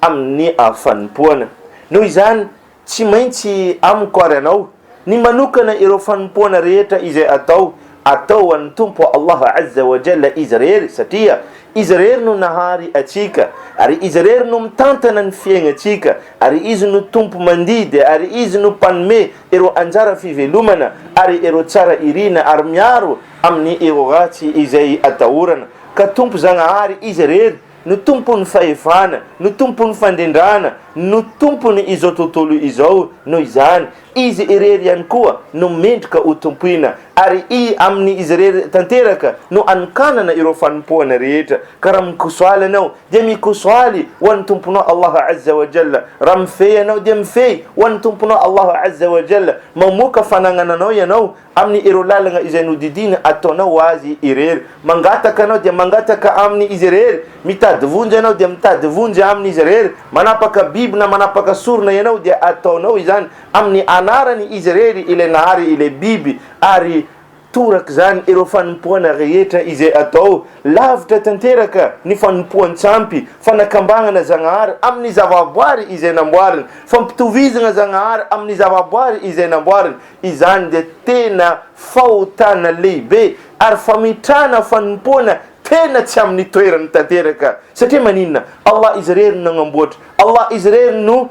amin'ny fanompoana. Noho izany, tsy maintsy amiko ary anao ny manokana ireo fanompoana rehetra izay atao, atao ho an'ny Tompo Allah Azza wa Jalla Izy irery, satria Izy irery no nahary antsika, ary Izy irery no mitantana ny fiaignantsika, ary Izy no Tompo mandidy, ary Izy no Mpanome ireo anjara fivelomana ary ireo tsara irina ary miaro amin'ny ireo ratsy izay atahorana. Ka Tompo Zagnahary Izy irery no tompon'ny fahefana, no tompon'ny fandrindrana, no tompony izao tontolo izao, noho izany Izy irery ihany koa no mendrika ho tompoina, ary I aminy Izy irery tanteraka no anokanana ireo fanompoana rehetra, ka raha mikosoaly ianao dia mikosoaly ho an'ny Tomponao Allah Azza wa Jalla, raha mifehy ianao dia mifehy ho an'ny Tomponao Allah Azza wa Jalla, mamoaka fanagnananao ianao Aminy ireo lalagna izay nodidiana ataonao ho azy irery. Mangataka anao dia mangataka aminy izy irery. Mitady vonjy anao dia mitady vonjy aminy izy irery. Manapaka biby na manapaka sorona ianao dia ataonao izany aminy anarany izy irery ilay nahary ilay biby ary torak'izany ireo fanompoana rehetra izay atao. Lavitra tanteraka ny fanompoan-tsampy, fanakambangana Zagnahary aminy zavaboary izay namboariny, fampitovizagna Zagnahary aminy zavaboary izay namboariny. Izany dia tena fahotana lehibe ary fametrahana fanompoana tena tsy amin'ny toerany tanteraka. Satria maninona? Allah Izy irery no nagnamboatra. Allah Izy irery no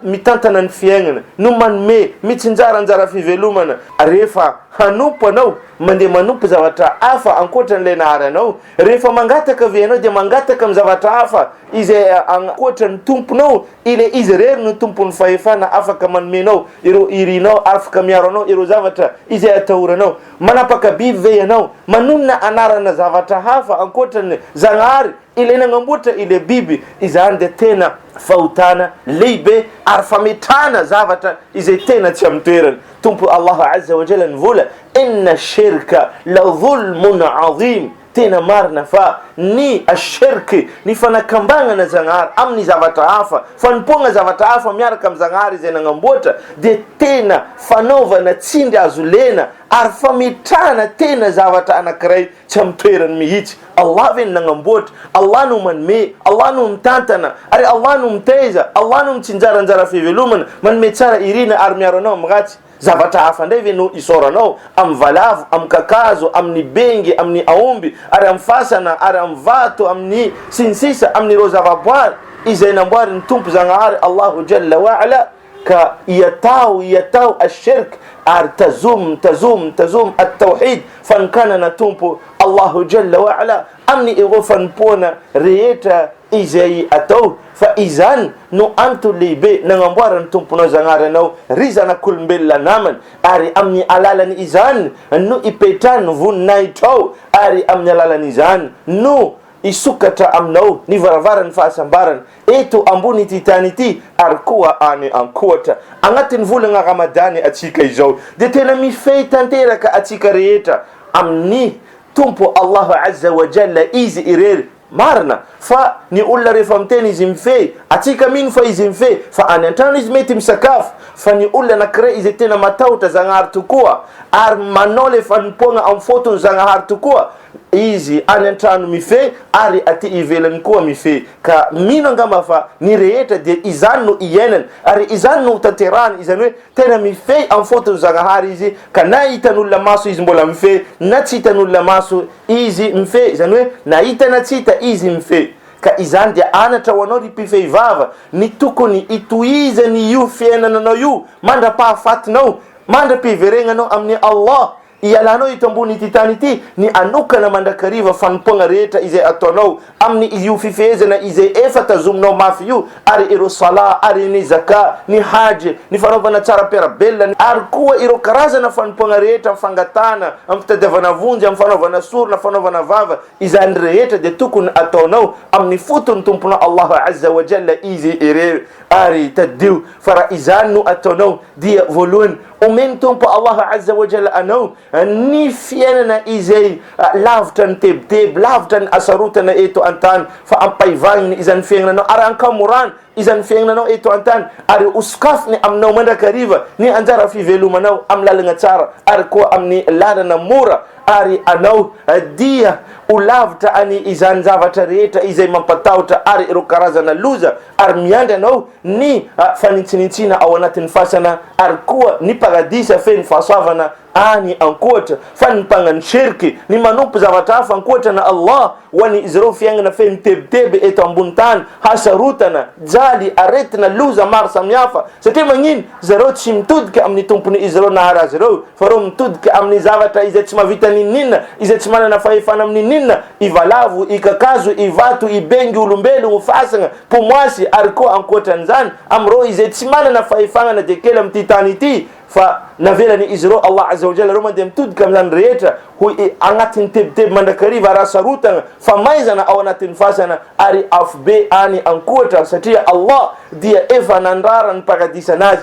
mitantana ny fiaignana, no manome, mitsinjara anjara fivelomana. Rehefa hanompo anao, mandeha manompo zavatra hafa ankoatran'ilay nahary anao. Rehefa mangataka ve ianao dia mangataka amin'ny zavatra hafa izay ankoatran'ny Tomponao Ilay Izy irery no Tompon'ny fahefana, afaka manome anao ireo irinao, afaka miaro anao ireo zavatra izay atahoranao. Manapaka biby ve ianao? Manonona anarana zavatra hafa ankoatra ny Zagnahary, Ilay nagnamboatra ilay biby? Izany dia tena fahotana lehibe ary fametrahana zavatra izay tena tsy amin'ny toerany. Tompo Allah Azza wa Jalla ny vola, Inna shirka la dhulmun 'azim. Tena marina fa ny ash-shirk, ny fanakambagnana Zagnahary amin' ny zavatra hafa, fanompoagna zavatra hafa miaraka amin' Zagnahary izay nagnamboatra, dia tena fanaovana tsindry azo lena ary fametrahana tena zavatra anankiray tsy amin' ny toerany mihitsy. Allah ve no nagnamboatra? Allah no manome, Allah no mitantana, ary Allah no mitaiza, Allah no mitsinjara anjara fivelomana, manome tsara irina ary miaro anao amin' ny ratsy. Zavatra hafa indray ve no isaoranao? Amin'ny valavo, amin'ny kakazo, amin'ny bengy, amin'ny aomby, ary amin'ny fasana, ary amin'ny vato, amin'ny, sy ny sisa Amin'ireo zavaboary izay namboarin'ny Tompo Zagnahary Allahu Jalla wa Ala, ka iatao, iatao Ash-Shirk, ary tazom, tazom, tazom At-Tawhid, Fanokanana Tompo Allahu Jalla wa Ala, amin'ireo fanompoana rehetra izay atao. Fa izany no antony lehibe nagnamboaran'ny Tomponao Zagnahary anao, ry zanak'olombelona namany, ary amin'ny alalan' izany no ipetrahan' ny voninahitrao, ary amin'ny alalan' izany no hisokatra aminao ny varavaran'ny fahasambarana, eto ambony ity tany ity, ary koa any an-kohatra. Agnatin'ny volagna Ramadany antsika izao, dia tena mifehy tanteraka antsika rehetra amin'ny Tompo Allaho Azza wa Jalla Izy irery, Marina fa ny olona rehefa miteny izy mifehy, atsika mino fa izy mifehy fa any antrano izy mety misakafo, fa ny olona anakiray izay tena matahotra Zagnahary tokoa ary manao le fanompoagna am fotony Zagnahary tokoa, izy any antrano mifehy ary aty ivelany koa mifehy, ka mino angamba fa ny rehetra dia izany no hiainany ary izany no ho tanterahany, izany hoe tena mifehy am fotony Zagnahary izy ka na hitan'olona maso izy mbola mifehy na tsy hitan'olona maso Izy mifehy, izany hoe na hita na tsy hita Izy mifehy. Ka izany dia anatra ho anao ry mpifehy vava, ny tokony hitohizany io fiainana anao io mandra-pahafatinao, mandra-piveregnanao amin'i Allah, hialanao eto ambony ity tany ity, ny hanokana mandrakariva fanompoagna rehetra izay ataonao, Amin' io fifehezana izay efa tazominao mafy io ary ireo Salah ary ny Zakah, ny Hajj, ny fanaovana tsara am-piarabelona ary koa ireo karazana fanompoagna rehetra am fangatahana, am fitadiavana vonjy, am fanaovana sorona, fanaovana vava, izany rehetra dia tokony ataonao amin' ny foton' ny Tomponao Allah Azza wa Jalla izy ireo, ary tadidio fa raha izany no ataonao dia voalohany omen' ny Tompo Allah Azza wa Jalla anao Ny fiainana izay lavitra ny tebiteby, lavitra ny hasarotana eto an-tany, fa ampahivahiny izany fiaignananao ary ankamorano izany fiaignananao eto an-tany ary hosokafiny aminao mandrakariva ny anjara fivelomanao amin'ny lalagna tsara ary koa amin'ny lalana mora ary anao dia ho lavitra any izany zavatra rehetra izay mampatahotra ary ireo karazana loza ary miandry anao ny fanintsinintsiana ao anatin'ny fasana ary koa ny paradisa feno fahasoavana any ankoatra fa ny mpagnano shirky ny manompo zavatra hafa ankoatran'i Allah ho an'izy ireo fiainana feno tebiteby eto ambony tany hasarotana jaly aretina loza maro samihafa satria magnino zareo tsy mitodika amin'ny tompony izy ireo nahary azy ireo Faharoa, mitodika amin'ny zavatra izay tsy mahavita n'inon'inona, izay tsy manana fahefana amin'inon'inona, i valavo, i kakazo, i vato, i bengy, olombelogno, fasagna, pomoasy, ary koa ankoatran'izany, amin'ireo izay tsy manana fahefagna na dia kely amin'ity tany ity, fa navelany izy ireo, Allah Azza wa Jalla, ireo mandeha mitodika amin'izany rehetra ho i agnatin'ny tebiteby mandrakariva araha sarotagna, famaizana ao anatin'ny fasana, ary afobe any ankoatra, satria Allah dia efa nandrara ny paradisana azy,